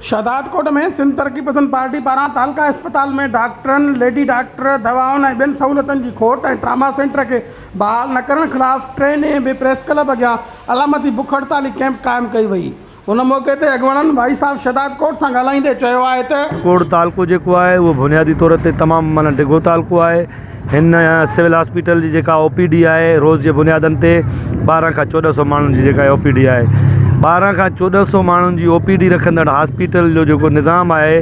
Shahdadkot ۾ Sindh Taraqqi Pasand party پاران تعلقه اسپتال ۾ ڊاڪٽرن، ليڊي ڊاڪٽر، دوائن ۽ ٻين سهولتن جي کوٽ ۽ ٽراما سينٽر کي بحال نه ڪرڻ خلاف ٽئين ڏينهن به پريس ڪلب اڳيان علامتي بک هڙتالي ڪئمپ قائم ڪئي وئي. ان موقعي تي اڳواڻن ڀائي صاحب شھداد ڪوٽ سان ڳالھائيندي چيو آھي ته. ڪوٽ تعلقو جيڪو آھي اھو بنيادي طور تي تمام معنيٰ ڊگھو تعلقو آھي ھن سول ھاسپيٽل جي جيڪا او پي ڊي آھي روز جي بنيادن تي ٻارھن کان چوڏھن سو ماڻھن جي جيڪا او پي ڊي آھي ٻارھن کان چوڏھن سو ماڻھن جي او پي ڊي رکندڙ ھاسپيٽل جو جيڪو نظام آھي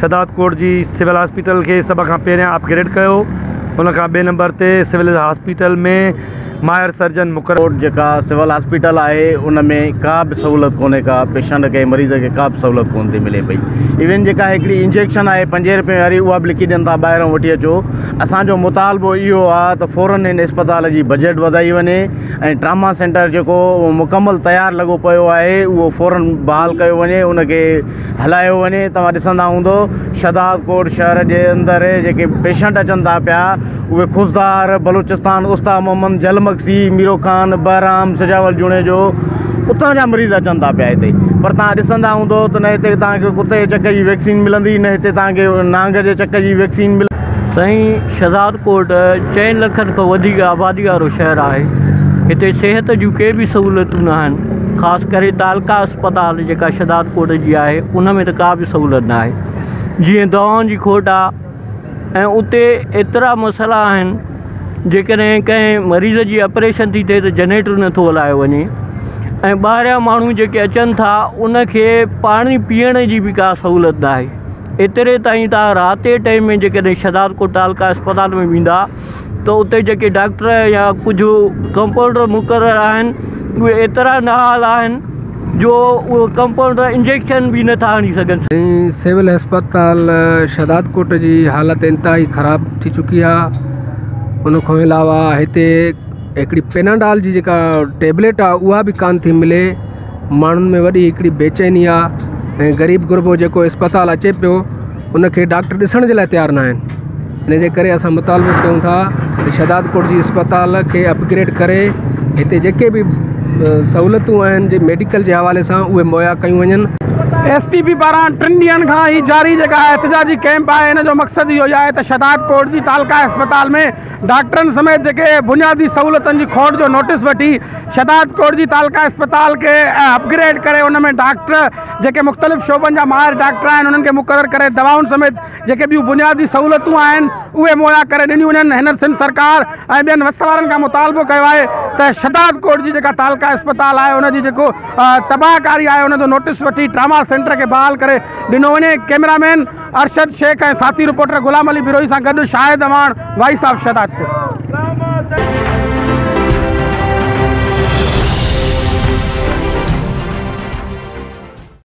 شھداد ڪوٽ جي سول ھاسپيٽل کي سڀ کان پھريان اپ گريڊ ڪيو ان کان ٻئي نمبر تي سول ھاسپيٽل ۾ ماھر سرجن مقرر ڪوٽ جيڪا سول ھاسپيٽل آھي ان ۾ ڪا به سھولت ڪونھي ڪا پيشنٽ کي مريض کي ڪا به سھولت ڪون ٿي ملي پئي ايون جيڪا ھڪڙي انجيڪشن آھي پنجين رپين واري اھا به لکي ڏين ٿا ٻاھرون وٺي اچو اسان جو مطالبو اھو آھي ته فورن ھن اسپتال جي بجيٽ وڌائي وڃي ۽ ٽراما سينٽر جيڪو مڪمل تيار لڳو پيو آھي اھو فورن بحال ڪيو وڃي ان کي هلايو وڃي توهان ڏسندا هوندو شهداد ڪوٽ شهر جي اندر جيڪي پيشنٽ اچن ٿا پيا اهي خضدار بلوچستان استا محمد جل مگسي ميرو خان بهرام سجاول جوڻيجو اتان جا مريض اچن ٿا پيا هتي پر توهان ڏسندا هوندو ته نه هتي توهان کي ڪتي جي چڪ جي ويڪسين ملندي نه هتي توهان کي نانگ جي چڪ جي ويڪسين ملندي سائين شھدادڪوٽ چئن لکن کان وڌيڪ آبادي وارو شهر آهي. هتي صحت جون ڪي به سهولتون ناهن. خاص ڪري تعلقه اسپتال جيڪا شھدادڪوٽ جي آهي ان ۾ ته ڪا به سهولت ناهي. جيئن دوائن جي کوٽ آ ۽ اتي ايترا مسئلا آهن جيڪڏهن ڪنهن مريض جي اپريشن ٿي ٿئي ته جنريٽر نٿو هلايو وڃي ۽ ٻاهريان ماڻهو جيڪي اچن ٿا ان کي پاڻي پيئڻ جي به ڪا سهولت ناهي. ايتري تائين توهان رات جي ٽيم ۾ جيڪڏهن شهداد ڪوٽ تعلقه اسپتال ۾ ويندا ته اتي جيڪي ڊاڪٽر يا ڪجهه ڪمپاؤنڊر مقرر آهن اهي ايترا نااهل آهن جو اهي ڪمپاؤنڊر انجيڪشن به نٿا هڻي سگهن. سول اسپتال شهداد ڪوٽ جي حالت انتهائي خراب ٿي چڪي آهي ان کان علاوه هتي هڪڙي پيناڊال جي جيڪا ٽيبليٽ آهي اها به ڪانه ٿي ملي ماڻهن ۾ وڏي هڪڙي بيچيني آ ۽ غريب غربو جيڪو اسپتال اچي پيو ان کي ڊاڪٽر ڏسڻ جي لاء تيار ناهن ان جي ڪري اسان مطالبو ڪيون ٿا ته شھدادڪوٽ جي اسپتال کي اپگريڊ ڪري هتي جيڪي به سهولتون آهن جي ميڊيڪل جي حوالي سان اهي مهيا ڪيون وڃن. ايس ٽي پي پاران ٽن ڏينهن کان هي جاري جيڪا احتجاجي ڪيمپ آهي ان جو مقصد اهو ئي آهي ته شھدادڪوٽ جي تعلقه اسپتال ۾ ڊاڪٽرن سميت جيڪي بنيادي سهولتن جي کوٽ جو نوٽيس وٺي شهداد ڪوٽ جي تعلقه اسپتال کي اپ گريڊ ڪري ان ۾ ڊاڪٽر جيڪي مختلف شعبن جا ماهر ڊاڪٽر آهن انهن کي مقرر ڪري دوائن سميت جيڪي ٻيون بنيادي سهولتون آهن اهي مهيا ڪري ڏنيون وڃن هن سنڌ سرڪار ۽ ٻين وس وارن کان مطالبو ڪيو آهي ته شهداد ڪوٽ جي جيڪا تعلقه اسپتال آهي ان جي جيڪو تباهه ڪاري آهي ان جو نوٽيس وٺي ٽراما سينٽر کي بحال ڪري ڏنو وڃي ڪيمرا مين ارشد شيخ ۽ ساٿي رپورٽر غلام علي بروهي سان گڏ شاهد اعواڻ وائيس آف شهدادپور.